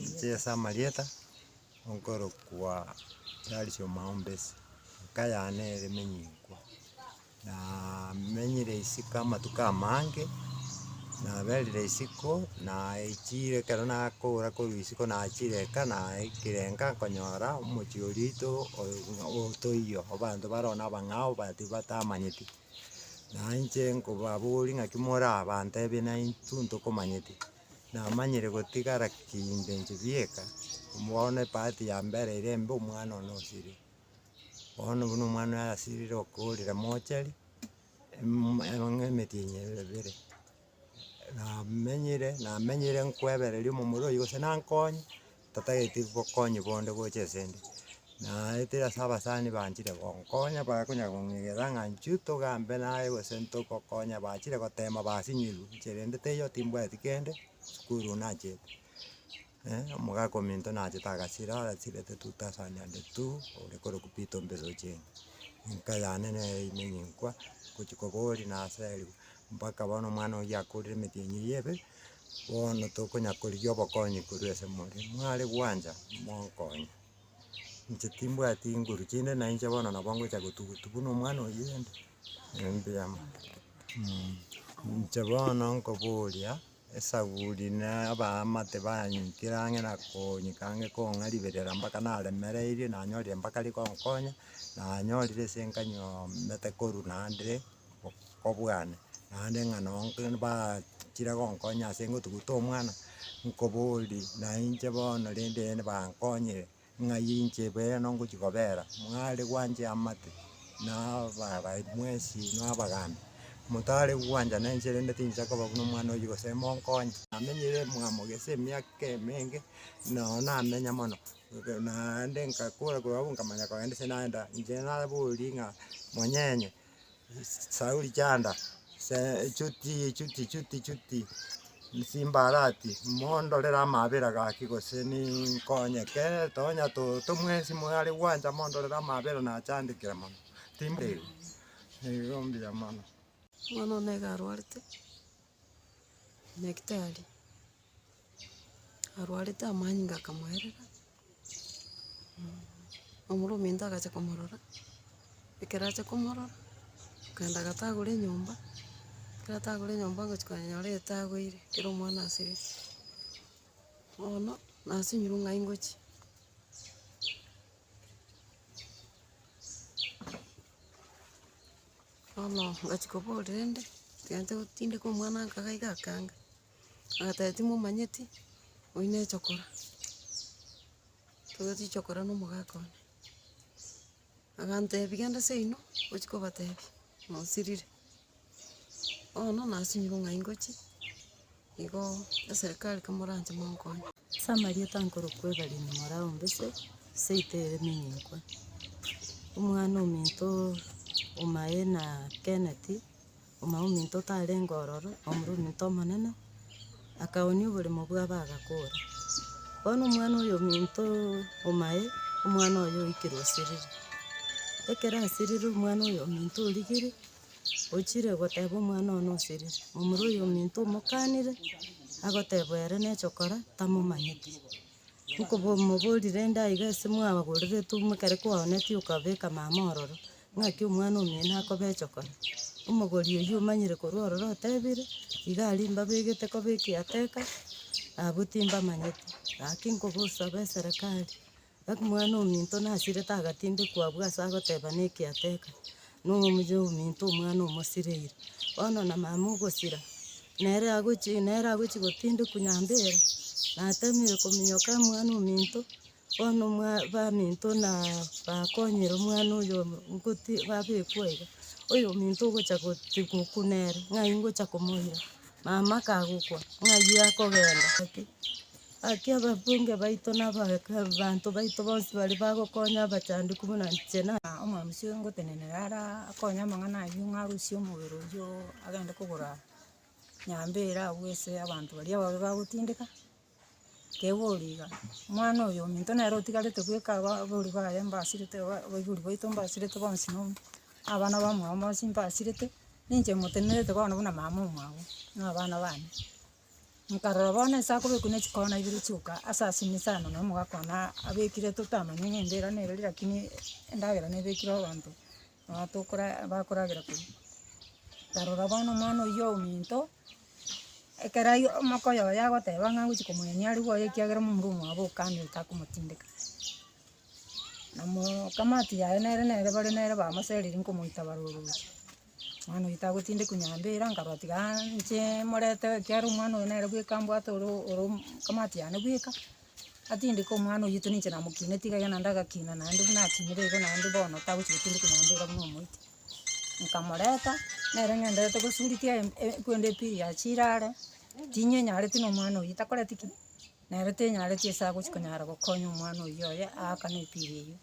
Inche ase amarieta, okorokwa Charles Omaumbesi, eka yane ere Emenyikwa, naa menyire isiko amatuko amange, naberire isiko, naechiire ekero nakoora korwa isiko nachiire eka naikire enka nkonyora omochie orito oyo buna otoiyo, abanto bare oo na abang'ao but batamanyeti, naye inche nkobaboria ng'aki more aa, bantebia naintwe ntokomanyeti. Namanyire gotigara kinde inche bieka, bono epati ya mbere ere embe omwana one osirire. Bono buna omwana oye asirire okorire mochari, em- em- emetienyi ebe ebere. Namenyire namenyire nkoebereria omomura oyio gose nankonye. tatageti bokonyi bonde gocha asende, naete ase abasani banchire gonkonya bakonyara kong'egera ng'a nchuo togambe naye gose ntogokonya bachire gotema basinyigwe inche rende teiyo timbwati kende, sukuru nachete, omogaka ominto nachete agasira arasirete tu tasani ande tu, ore korokwa peter ombeso ochendi, enka yane nere ime nyenkwa, gochia koba ore naseriwa, mpaka bono omwana oyio akorire emetienyi eyio ebe. bono tokonya korigia obokonyi korwa ase more, mware gwancha monkonye, inche timbwati nguru chinde na inche bono nabo ngocha gotugutu buna omwana oyio ande, ebi mbuya mono mh. Inche bono nkoboria, esabuni na abaamate banyikere ang'e na konyika ang'e kong'a riberera mpaka naremereirie nanyorire mpaka rikonkonya, nanyorire ase nkanyomete korwa naende. nkobwane, naende ng'a noo mbachire gonkonya ase ngotuguta omwana, nkoborie nainche bono rende ere bankonyire, ng'ai inche beeno ngochia kobera, mware gwancha amate na ababae mwensi na abagamba, motare gwancha na inche rende tinsa koba buna omwana oywo gose monkonye. Namenyire mwamogese emiaka emenge, noo namenya mono, naende nkakora korwa abwo nkamanya kogenda ase naenda, inche naborie ng'a monyenye. Sauri chanda, chuti, chuti, chuti, chuti, simba arati, mondorere amabera gaki gose ninkonyeke, tonya toto mwesi moyo are gwancha mondorere amabera nachandekire mono, timberi, nigo mbuya mono. Omwana one iga arwarete, nyagetari. arwarete amanyinga akamoerera, omoro ominto agacha komorora, ekero acha komorora, akaenda agatagora enyomba, ekero atagora enyomba ngochia konyora etagoire, ekero omwana asirire, bono nasinyirwe ng'ai ngochia. Bono ngachia koboria rende, egento tindeka omwana nkaga iga akanga. Agateba timomanyeti oyi ne chokora, toigweti chokora na omogaka one, agantebi genda seino ochi kobatebi nosirire, bono nasinyire ng'ai ngochie igo eserekari komoranche monkonye. Ase amarieta nkorokwa Evelyn Morao Mbise, eseito eye emenyinkwa, omwana ominto omaye na Kenneth Omoa ominto otarenge ororo, Omoroominto omonene, akaoonia oboremo bwabo agakora. Bono omwana oyo ominto omae, omwana oye oikire osirire. Ekero asirire omwana oyo ominto origire, ochire goteba omwana oye nosirire. Omoro oyo ominto omokanire, agoteba ere neche okora, tamomanyeti. Nkomoborire endaiga ase mwababoreretwe buna ekero kwaonetie okabeka mama ororo, ng'aki omwana omino akobecha okore. Omogori oyio omanyire korwa ororo otebire, iga aria mbabegete koba ekiateka, abwo timbamanyeti. Gaki nkobosabe eserekari, omwana ominto nasirete agatindekwa abwo ase agoteba ne ekiateka. Nomoyo ominto omwana omosirairi, bono na mama ogosira, nere agochie, nere agochie gotindekwa nyambere, natemire kominyoka omwana ominto, bono omwa baminto na bakonyire omwana oyo goti babekwa iga, oyominto ogocha goti gokwa nere, ng'ai ngocha komoira. Mama akagokwa ng'ayio akogenda gaki, gaki ababunge baito na abanto baito bonsi baria bagokonya abachandekwa buna inche na. Omomosio ngotenenera ara akonye amang'ana ayio ng'a arusie omobere oyio agende kogora nyambera agwo ase abanto baria ababe bagotindeka. Tebori iga, omwana oyo ominto nere otigarete bweka aba abori baye mbasirete ba abaibori baito mbasirete bonsi na onsi, na abana ba omwabo bonsi mbasirete, ninche motemerete bono buna mama omwabo, na abana bane. Nkarora bono ase akobekwa na chikona ibere chioka ase asime sana na omogaka one a- abekire totamanya ng'a embira nere lakini endagera nebekire abanto. Tokora bakoragera koria, tarora bono omwana oyio ominto, ekero aye omokoyo oye agoteba ng'a ngochi komoyenia aria bwoye ekiagera momura omwabo okando otakomotindeka. Na moo kamati yaye nere nere bare nere bamoserire nkomoita barorokigwa, mwana oyio tagotindekwa nyomba eria, nkarora tiga inche morete ekiagera omwana oyo nere bweka mbwate oro oro kamati yane bweka. Atindike omwana oyio otu ninche namokinete iga iga naende agakina naende buna akinire iga naende bono tagochi gotindika nyomba iga buna omoite. Nkamoreta, nere ng'enderete gosuritia em- e- kwende epiiri ya chiro are, tinyenyareti na omwana oyio takoreti ki? Nere tenyareti ase agochi konyara gokonya omwana oyio oye aakane epiiri eyio.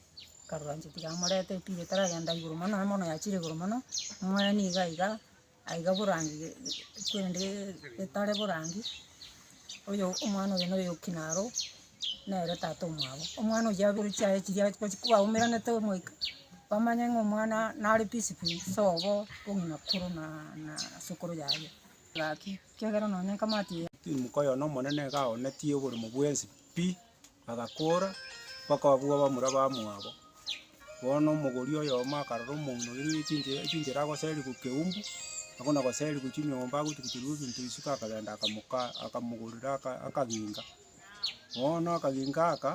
Nkarora inche tiga amorete epiiri etaragenda igoro mono mono yachire igoro mono, moe niga iga, Aiga borange korende getare borange, oyo omwana oyo noyo okina aroo, nere tata omwabo. Omwana oyio abere chiaye chiria aye gochi kwaumeranete omoika, bamanye ng'a omwana nare peaceful sobo ong'ina korwa na na sokoro yaye. Gaki, kiagera nonye ekamati eye. Timoko oyo nomonene iga aonetie oboremo bwensi pi, Bagakoora, bakababua bamura bamwabo. Bono omogori oyomo akarora omouno oirwe ne chinchera, echinchera agoseria goku keumbu, abwo na goseria gochia nyomba agotuguterigwe ebinto isiko akagenda akamoka, akamogorera aka akaginga. Bono akaginga aka,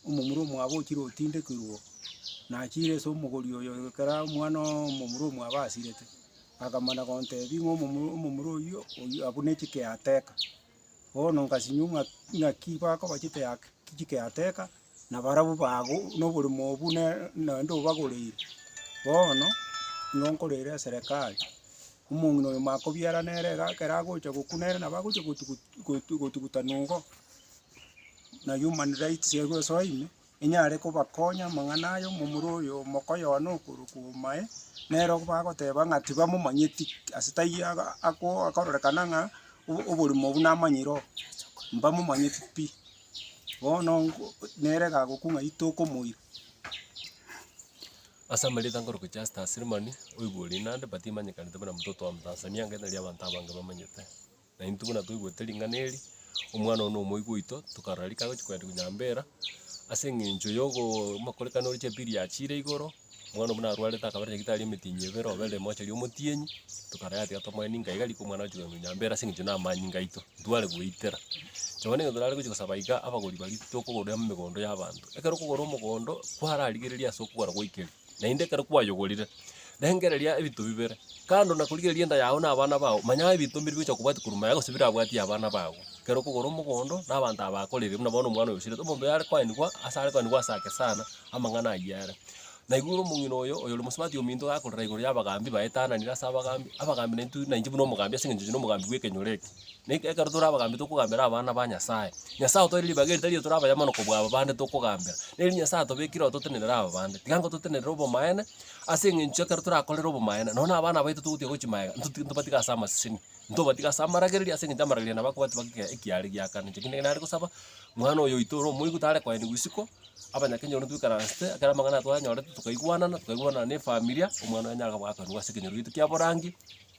omomura omwabo ochire otindekirwe, nachire ase omogori oyo ekero omwana oo omomura omwabo asirete, akamana gontebia ng'a omomura omomura oyio, oyio abwo ne chike yateka. Bono nkasinywa ng'a naki bakobachete ake kichike yateka, na barabwo bago noboremo obwo ne naende obagoreire. Bono nigo nkoreire eserekari, omong'ina oyo makobiara nere iga ekero agocha gokwa nere nabo agocha gotugutu gotu gotugutana igo, na human rights egosoa ime. Inyare kobakonya amang'ana aya omomura oyo mokoyona okorwa kwomae, nero bagoteba ng'a tibamomanyeti, ase taiyo aga ako akororekana ng'a o- oborimo obwo namanyire oo, mbamomanyeti pi. Bono nko nere gagokwa ng'a itokomoira. Ase amarioto angorwa gochia ase Taasilimani, oigwe ore Nandi, but imanyekanete buna Mtoto wa Mtanzania, ng'ina riabanto abange bamanyete. Na intwe buna twaigwete ring'ana eri, omwana oyo nomoigo oito, tokarora rika agochia kogenda konyambera, ase eng'encho yogo amakorekano ore chepili yachiire igoro, omwana buna arwarete akaba na nyagitari emetinyi ebere, obe ere moche aria omotienyi, tokarora yatiga tomoe ninka iga rika omwana agochia kogenda konyambera ase eng'encho namanyinga aito, ntware goetera. Nabo na ekero torare gochia kosaba iga, abagori baria titokogora emegondo y'abanto. Ekero okogora omogondo, kwararigereria ase okogora gwaikire. Naende ekero kwayogorire, rengereria ebinto bibere. Kando na korigereria enda yao na abana bao, manya ebinto mbiri bigochia kobwatia korwa magega gose birabwatie abana bago. Ekero okogora omogondo, na abanto aba bakoririre, buna bono omwana oyo osirete, omonto oyare koenigwa ase are koenigwa ase ake sana, amang'ana ayio are. Na igoro omong'ina oyo, oyore mosubati ominto gakorera igoro y'abagambi baetananire ase abagambi, abagambi naintwe nainche buna omogambi ase eng'encho inche nomogambi bw'ekenyoro eke. Ekero tore abagambi tokogambera abana ba Nyasaye. Nyasaye otoeire ribaga eri tari eri tore abaya mono kobua aba bande tokogambera, neri Nyasaye atobekire ototenerere aba bande. Tiga ngototenerere obomaene, ase eng'encho ekero torakorere obomaene, nonye na abana baito togotiga gochia magega, ntotige ntobatiga ase amaseseni, ntobatige ase amaragereria ase eng'encho amaragereria nabo akobwati baka ekiare giakana. Inche kende nare gosaba, mwana oyo oito ore omoigwa tare koenigwa isiko, abanyakenya bono twaikaransete, ekero amang'ana aya twayanyorete, tokaigwanana, tokaigwanana na efamiri, omwana oyo anyare koba akoenigwa ase ekenyoro gito kia borangi.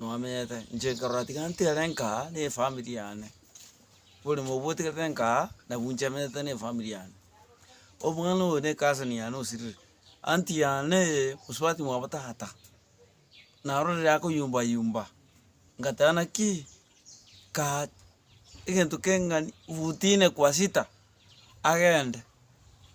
Nwamenyete, inche nkarora tiga ntere nkaa ne efamiri yane, oboremo obwo otigerete nkaa, nabwo inche emenyete ne efamiri yane. Omwana oyo ne cousin yane osirire, anti yanee mosubati mwabo tata, naro riria akoyumba yumba, ngateba naki kaa egento keng'ani futi ine kwa sita, agende,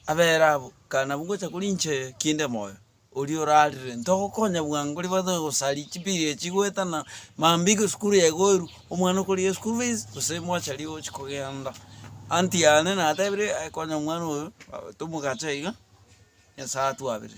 abere abwo, ekero nabwo ngocha koria inchee kinde moyo, oria orarire, ntogokonya bwango ribaga tonya gosaria chibiiri echi chigoetana, mambia iga esukuru yagoirwe, omwana okorigia eschool fees, gose mochari ogochi kogenda. Anti yane natebire aye konya omwana oyo, aah tomogacha iga, Nyasaye atwabere.